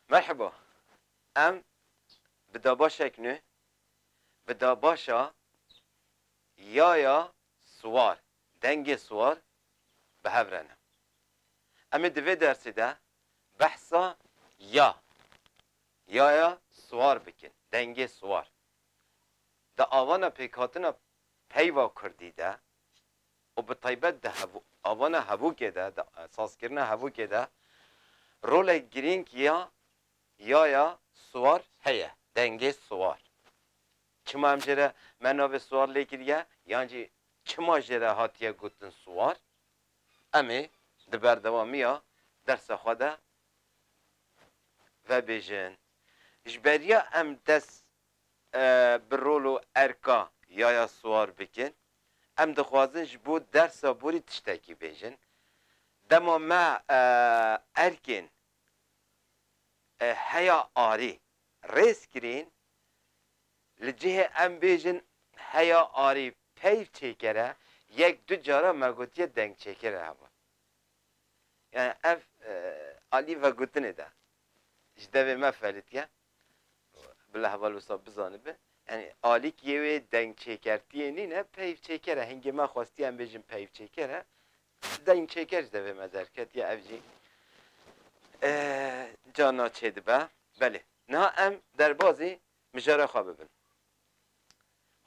Merheba, em bi dabaşek nû, bi dabaşa Yaya Siwar, Dengê Siwar bi hev re ne. Em ê di vê dersê de behsa ya Yaya Siwar bikin, Dengê Siwar. Di avana pêkhatina peyva kurdî de û bi taybet di avana hevokê de, di sazkirina hevokê de rolek girîng ya yaya siwar heye, dengê siwar. Çima em jê re me navê siwar lê kiriye yan jî çima jê re hatiye gotin siwar, em ê di berdewamiya dersa xwe de vebêjin. Ji beriya em dest bi rol û erka yaya siwar bikin. Em dixwazin ji bo dersa borî tiştekî bêjin. Dema me erkên heya arî rêz kirîn, li cihê em bêjin heya arî peyv çêkere, yek du cara me gotiye dengçêkere hebe. Yani ev alî vegotinê de ji devê me felitiye. Bila heval wisa bizanibe. Yanî alîkiyê wê dengçêkertiyê nîne, peyvçêker e. Hingê me xwestiye em bêjin peyvçêker e. Dengçêker ji devê me derketiye ev jî carna çêdibe. Belê, niha em derbazî mijara xwe bibin.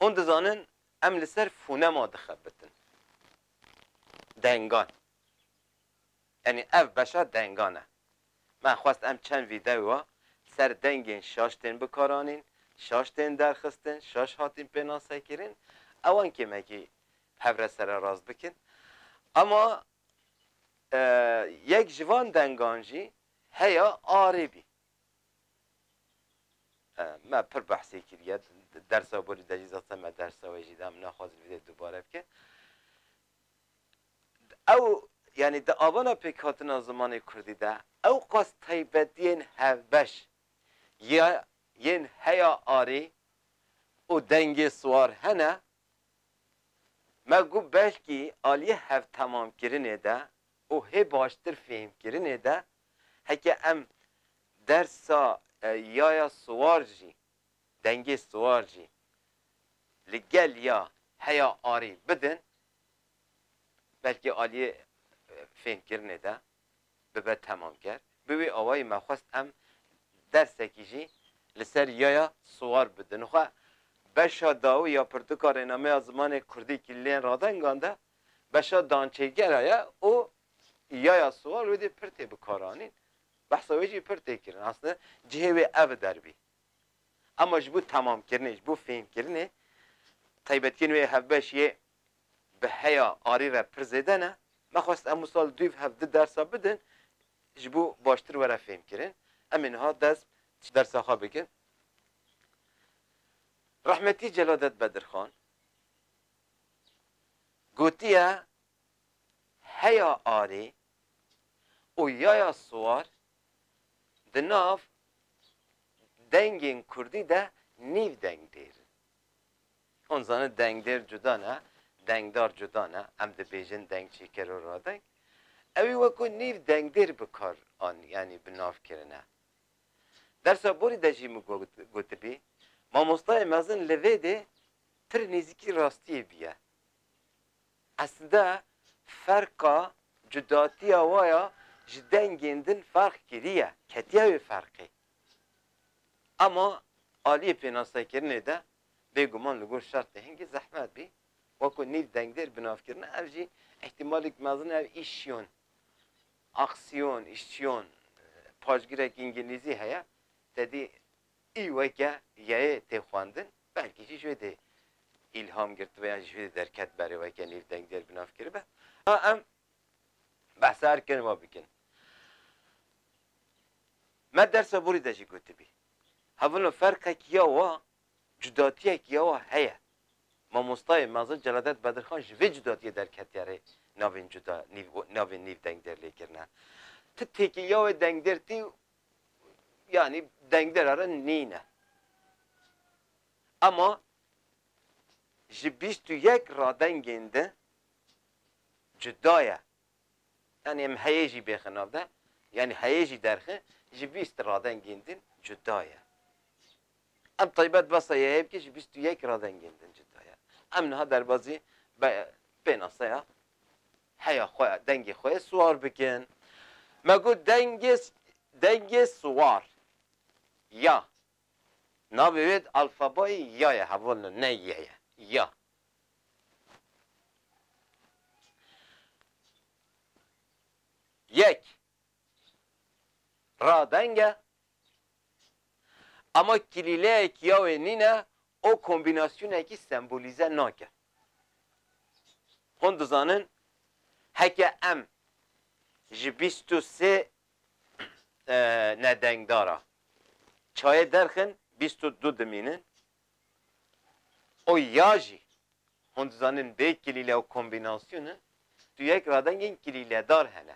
Hûn dizanin em li ser fonema dixebitin, dengan. Tenê ev beşa dengan e. Me xwest em çend vîdeoa li ser dengên şaş tên bikaranîn, şaş tên derxistin, şaş hatîn pênasekirin, ewan kêmekî hev re sererast bikin. Ama yek ji van dengan jî heya arê bî. Me pir behsê kiriye, di dersa borî de jî zazte me dersa wê jî da, em naxwazin vîdeoyê dubare bike. Ew, yanî di avana pêkhatina zimanê kurdî de ewqas taybetiyên hevbeş ya yên heya arî û dengê siwar hene, me got belkî aliyê hevtemamkirinê de û hê baştir fêhmkirinê de heke em dersa yaya siwar jî Dengê siwar jî li gel ya heya arî bidin belkî aliyê fênkirinê de bibe temamker. Bi wî awayî me xwest em dersekî jî li ser yaya siwar bidin. Xwe beşa dawî ya pirtûka rênameya zimanê kurdî kî lê radengan de beşa dançêgera ye û yaya siwar wê dê pir tê bikaranîn. Behsa wê jî pir tê kirin. Aslinde cihê wê ev derbî. Hema ji bo temamkirinê, ji bo fêhmkirinê taybetiyên wê hevbeş yê bi heya arê re pir zêde ne. Me xwest em wisal duyv hev di dersa bidin ji bo baştir were fêhmkirin. Em ê niha dest ji dersa xwe bikin. Rehmetî Celadet Bedirxan gotiye heya arê û yaya siwar Di nav dengên kurdî de nîv dengdêr in. Hûn zanin dengdêr cuda ne, dengdar cuda ne, em dibêjin dengçîker û radeng. Ewî wekû nîv dengdêr bi kar an yanî bi nav kirine. Dersa borî de jî min gotibî, mamostayê mezin li vê dê pir nêzîkî rastiyê bîye. Eslde ferqa cudatiya wa ya ji dengên din ferq kiriye, ketiye wê ferqê. Ema aliyê pênasekirinê de bêguman li gor şertê hingî zehmet bî, weko nîv dengdêr binavkirine ev jî îhtîmalek mezin e ev îşyon, aksiyon, îşçiyon, paşgirek îngilîzî heye tedî Î weke yayê tê xwendin belkî jî ji wê dê îlham girtibe yan jî ji wê dê derket be rê weke nêv dengdêr bi nav kiribe. A em behsa her kerema bikin. Me dersa borî de jî gotibî. Hevilo ferqek ya wa, cudatiyek ya wa heye. Mamostayê mezin Celadet Bedirxan ji vê cudatiyê derketiye rê navên cuda nîv navên nîv dengdêr lêkirine. Ti têkê ya wê dengdêr tî yanî dengdera re nîne. Ema ji bîst û yek radengên de cuda ye. Yanî em heyê jî bêxin nav de, yanî heyê jî derxin, ji bîst radengên din cuda ye. Em taybet besa yeyê bike ji bîst û yek radengên din cuda ye. Em niha derbazî pênaseya heya xwe dengê xwe siwar bikin. Me got dengê dengê siwar ya navê wê di alfabayê ya ye hevalino ne y ye ya. Yek ra deng e ama kilîleyek ya wê nîne û kombînasyonekî sembolîze nakin. Hûn dizanin heke em ji bîst û sê nedengdara çayê derxin bîst û du dimînin û ya jî hûn dizanin bê kilîle û kombînasyonên tu yek radengên kilîledar hene.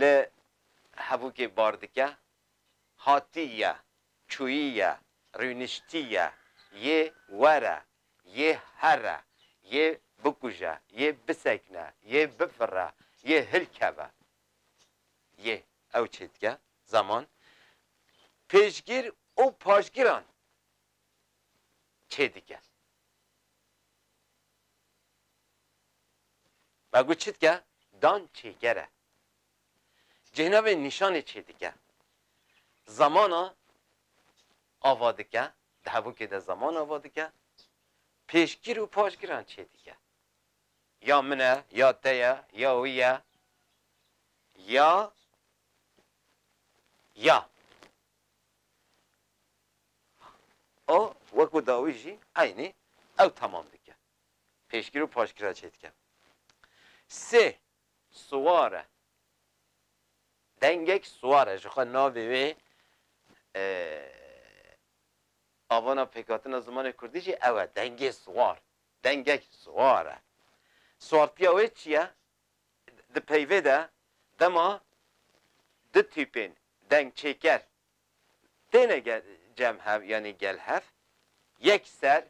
Li Hevûkê bar dike, hatî ye, çûyî ye, rûniştî ye, yê were, yê here, yê bikuje, yê bisekine, yê bifire, yê hilkeve. Yê ew çê dike, zeman, pêşgîr û paşgîran çê dike. Me got çi dike? Dan çêger e. Cihna vê nîşanê çê dike. Zamana ava dike, di hevokê de zaman ava dike, pêşgir û paşgiran çê dike. Ya min e, ya te ye, ya wî ye, ya, ya. A weko dawî jî eynî ew temam dike. Pêşgir û paşgir re çêdike. Sê siwar e. Dengek siwar e. Jixwe navê wê avana pêkhatina zimanê kurdî jî ew e. Dengê siwar. Dengek siwar e. Siwartiya wê çi ye? Di peyvê de dema du tîpên dengçêker têne cem hev yanî gel hev, yek ser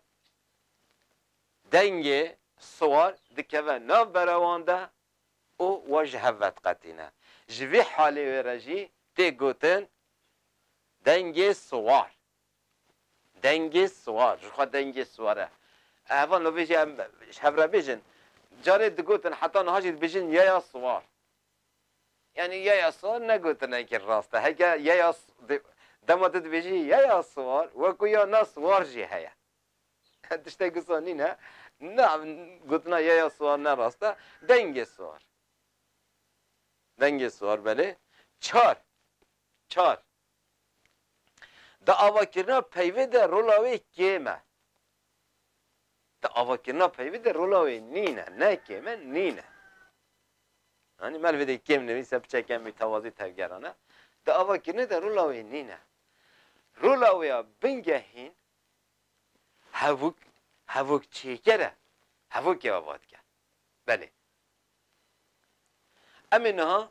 dengê siwar dikeve nav berewan de û wan ji hev vediqetîne. Ji vî halê wê re jî tê gotin dengê siwar. Dengê siwar, ji xwe dengê siwar e. Heval navê jî em ji hev re bêjin. Carê digotin heta niha jî dibêjin yaya siwar. Yanî yaya siwar ne gotinekî rast e. Heke yaya dema tu dibêjî yaya siwar wek ku ya na siwar jî heye. Tiştek wisa nîn e. Na gotina yaya siwar ne rast e. Dengê siwar. Dengê siwar belê. Çar. Çar. Di avakirina peyvê de rola wê kêm e. Di avakirina peyvê de rola wê nîn e, ne kêm e, nîn e. Anî me li vê de kêm nivîse biçeke mîtewazî tevgeran e. Di avakirinê de rola wê nîn e. Rola wê ya bingehîn hevûk hevûk çêker e. Hevokê ava dike. Belê. Em ê niha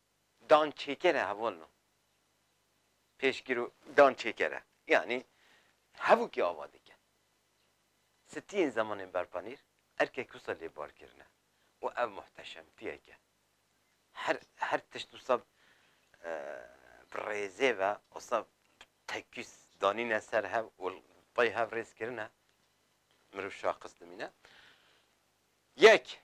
Dan çêkere hevalno pêşgiro dan çêkere yanî hevokî ava dike. Sitiyên zemanên berpanîr erkek wisa lê bar kirine û ev muhteşemtiyek e. Her her tişt wisa bi rêzê ve wisa bi tekîs danîne ser hev û tey hev rêz kirine. Mirov şaxis dimîne. Yek.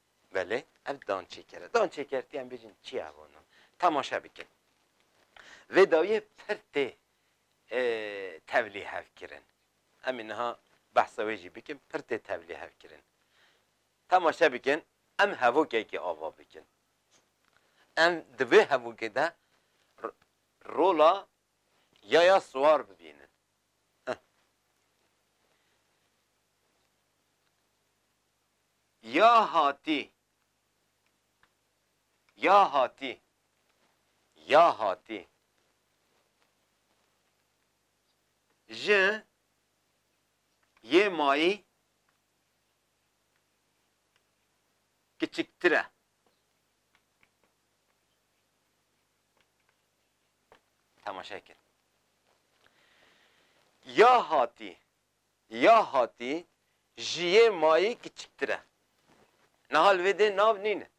Belê, ev dançêker e. Dançêker tê em bêjin çi ye vano. Temaşe bikin. Vê dawiyê pir tê tevlî hevkirin. Em ê niha behsa wê jî bikin, pir tê tevlî hevkirin. Temaşe bikin, em hevokekê ava bikin. Em di vê hevokê de rola yaya siwar bibînin. Ya hatî Ya hatî Ya hatî Ji yê mayî kiçiktir e. Temaşe kir. Ya hatî Ya hatî ji yê mayî kiçiktir e. Niha li vê dê nav nînin.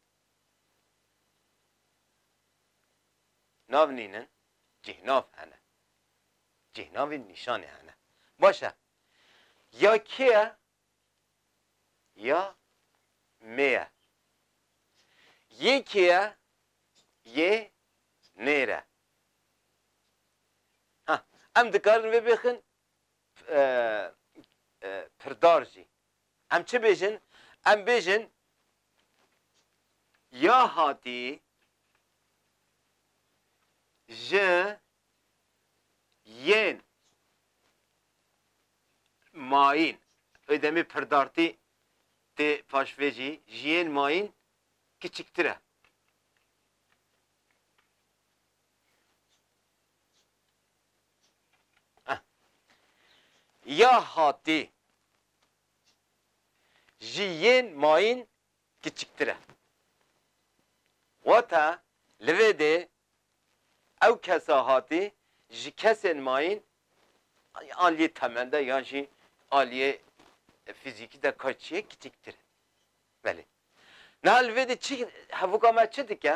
Nav nînin, cîhnav hene. Cîhnavî nîşanê hene. Baş e. Ya kê ye ya mê ye. Yê kê ye, yê nêr e. Ha, em dikarin vê bêxin pirdar jî. Em çi bêjin? Em bêjin ya hatî ji yên mayîn wê demê pirdartî tê paş vê jî ji yên mayîn kiçiktir e. Ya hatî ji yên mayîn kiçiktir e. Wata li vê dê ew kesa hatî ji kesên mayîn aliyê temen de yan jî aliyê fîzîkî de ka çi ye kiçiktir e. Belê. Niha li vê dê çi hevûka me çi dike?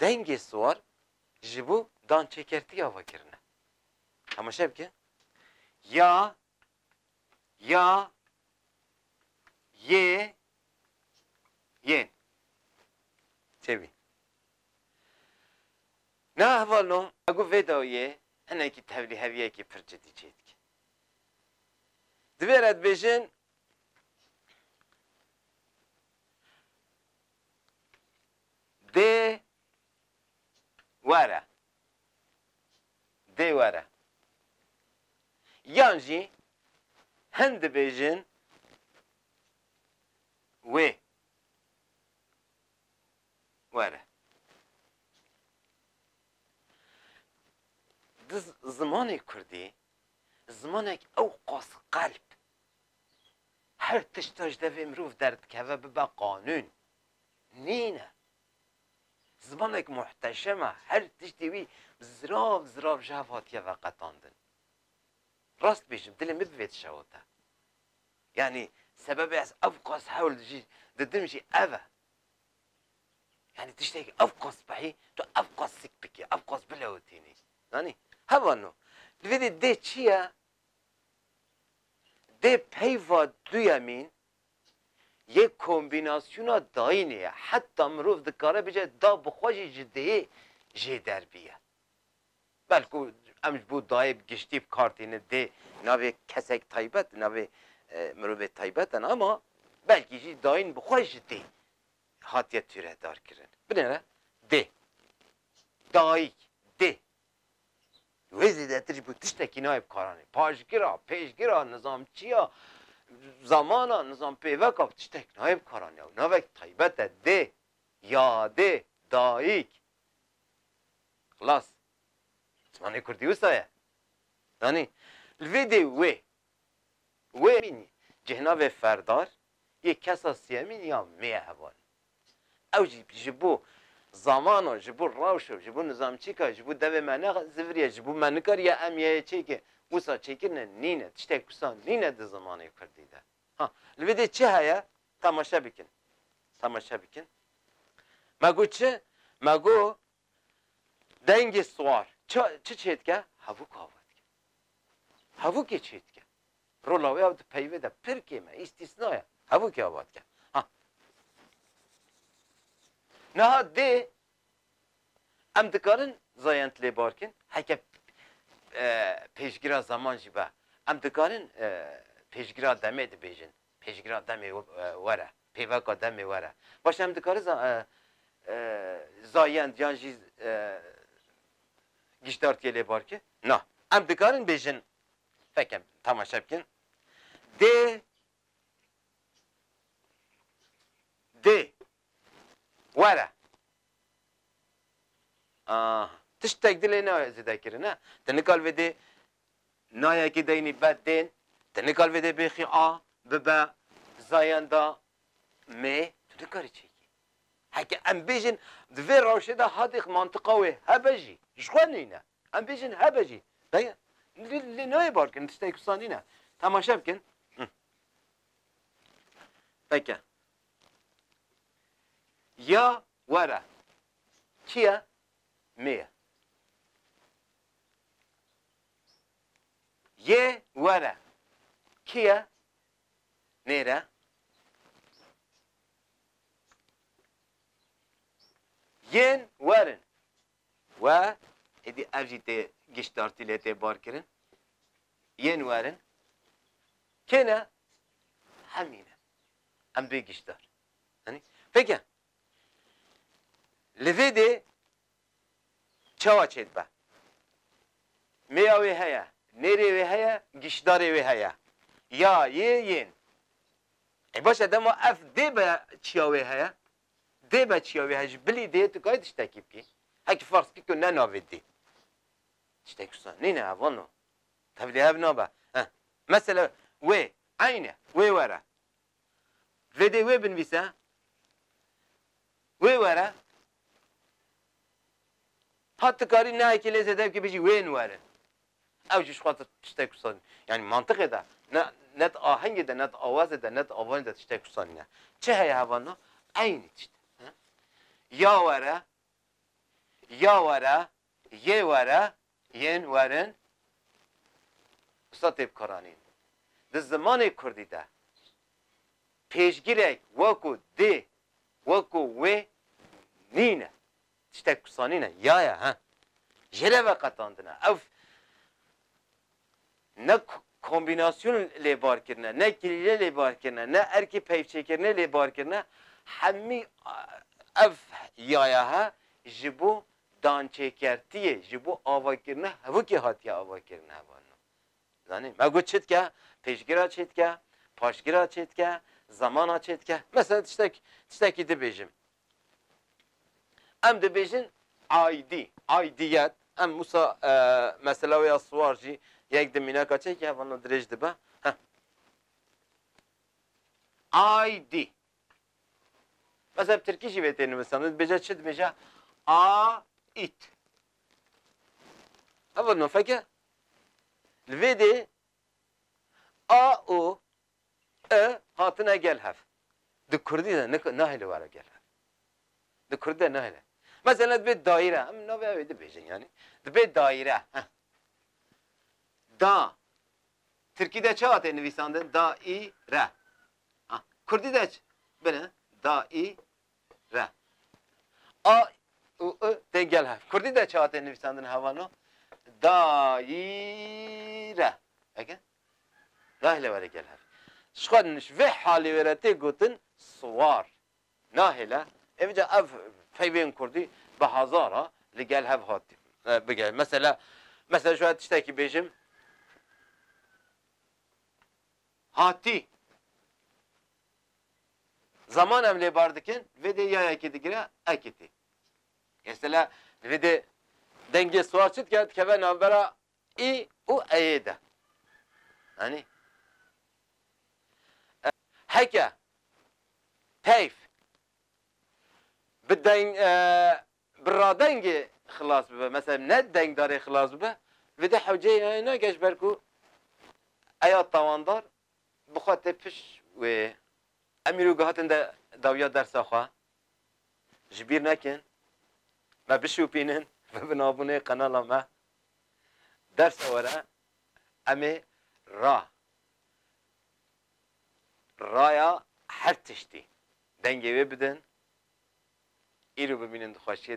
Dengê siwar ji bo dançêkertiya ve kirine. Temaşe bike. Ya, ya, yê, yên. Têbî. Na hevalno ego vê dawiyê hinekî tevlîheviyekî pir cidî çêdike. Divêre dibêjin Dê were. Dê were. Yan jî hin dibêjin wê were. Di zimanê kurdî zimanek ewqas qelb Her tişta ji devê mirov derdikeve bibe qanûn, nîn e. Zimanek muhteşem e, her tiştê wî zirav zirav ji hev hatiye veqetandin. Rast dibêjim, dilê min bi vê tişa got e. Yanî sebebê ez evqas hewl dijî didim jî ev e. Yanî tiştekî evqas bihî, tu evqas sik bikî, evqas bilewitînî. Zanî? Hevano. Divê dê dê çi ye, Dê peyva duyemîn yê kombînasyona dayînê ye. Heta mirov dikare bice da bi xwe jî ji dêyê jê derbiye. Belku em ji bo dayê bi giştî bi kar tînin dê navê kesek taybet, navê mirovê taybet in ama belkî jî dayîn bi xwe ji dê hatiye tûredarkirin. Binêre dê, dayîk, dê, Wê zêdetir jî ku tiştekî nayê bi karanê. Paşgira, pêşgira, nizamçiya, zamana, nizampêveka bi tiştekî nayê bi karanê. Ew navek taybet e dê, yadê, dayîk. Xilas. Zimanê kurdî wisa ye. Zanî? Li vê dê wê Wê bînî cihna vê ferdar yê kesa sêyemîn ya mê ye heval. Ew jî ji bo zamana, ji bo rewşa, ji bo nizamçîka, ji bo devê me ne ziviriye, ji bo me nikariye em yê çêkê wisa çêkirine nîne. Tiştek wisa nîne di zimanê kurdî de. Ha, li vê dê çi heye? Temaşe bikin. Temaşe bikin. Me got çi? Me got Dengê siwar çi çi çêdike? Hevûk a vat ke. Hevûkê çêdike. Rola wê ew di peyvê de pir kêm e, îstîsna ye. Hevûkê a vat ke. Ha. Niha dê em dikarin zayend lê bar kin, heke pêşgira zeman jî be. Em dikarin pêşgira demê dibêjin. Pêşgira demê were. Pêveka demê were. Baş e em dikari za zayend yan jî gişdartiyê lê bar ki? Na. Em dikarin bêjin feke temaşe bikin dê dê were. Aha. Tiştek di lê ne zêde kirine. Ti nikal vê dê Nayekî deynî bed tên, ti nikar vê dê bêxî a bibe zayenda mê, tu nikarî çêkî. Heke em bêjin di vê rewşê de hatîx mantiqa wê hebe jî ji xwe nîne. Em bêjin hebe jî dayê lê nayê bar kirin tiştekî wisa nîne. Temaşe bikin. Peke. Ya were. Çi ye? Mê ye. Yê were kî ye? Nêre. Yên werin we êdî ev jî tê giştdartî lê tê barkirin. Yên werin kê ne? Hemî ne. Em bê giştdar. Anî? Pêke li vê dê Çawa çêdibe? Mêya wê heye, nêrê wê heye, gîşdarê wê heye. Ya, yê, yên. E baş e dema ev dê be çiya wê heye? Dê be çiya wê heye? Ji bilî dê tu kayê tiştekî bikî. Hekî ferz kî tu ne navê dê. Tiştek wisa nîne ev wano. Tevlî ev nabe. Heh. Mesela wê, eyn e, wê were. Vêdê wê binivîse, wê were, ha tu karî nayekî lê zêde bikî bijî wên were. Ew jî ji xwe tiştek kusanî. Yanî mantiqê de ne ne di ahengê de, ne di awazê de, ne di avanê de tiştek kusanîne. Çi heye hevana? Eynî tişt e. Ya were, ya were, Yê were, yên werin Usta Têb Koranî di zimanê kurdî de pêşgirek wekû dê wekû wê nîne. Tiştek pisanîne, ya ye he. Jê re veqetandine. Ew Ne kombînasyon lê bar kirine, ne kirîle lê bar kirine, ne erkê peyvçêkirinê lê bar kirine, hemî ev yayahe ji bo dançêkertiyê, ji bo avakirina hevokê hatiye avakirin heva no. Zanî, me got çi dike? Pêşgira çê dike? Paşgira çê dike? Zemana çê dike? Mesela tiştek, tiştekî dibêjim. Em dibêjin aidî, aidiyet. Em wisa mesela wê ya siwar jî yek di mînaka çekê heva na dirêj dibe. Heh. Aidî. Mesela bi tirkî jî vê tê nivisan. Dibêje çi dibêje? Ait. Heva na feke. Li vê dê a û E, hatine gel hev. Di kurdî de nik nahêle were gel hev. Di kurdî de nahêle. Mesela dibê dayîre, em navê ew ê dibêjin yanî. Dibê dayîre, heh. Da, tirkî de çawa tê nivîsandin? Da-î-re. Ha, kurdî de çi? Bine, da-î-re. A û i tên gel hev. Kurdî de çawa tê nivîsandin hevano? Da-î-re. Eke? Nahêle were gel hev. Ji xwe ji vê halê wê re tê gotin siwar. Nahêle ê bica ev peyvên kurdî bi hezar a li gel hev hat bigere. Mesela mesela ji we tiştekî bêjim hatî zaman em lê bar dikin vê dê ya yekê digire ekitî. Mesela vê dê dengê siwar çi dike dikeve navbera I û eyê de. Anî. E, heke, peyf, bi deng, e, bi radengê xilas bibe, mesela ne dengdarê xilas bibe, vê de hewceyê heye ne ge ji ber ku eya tawandar bi xwe tê piş wê. Em îro gihatin de dawiya dersa xwe. Ji bîr nekin. Me bişopînin ve binavûnê qenala me. Dersa were em ê ra, raya her tiştî dengê wê bidin. Îro bimînin di xweşiyê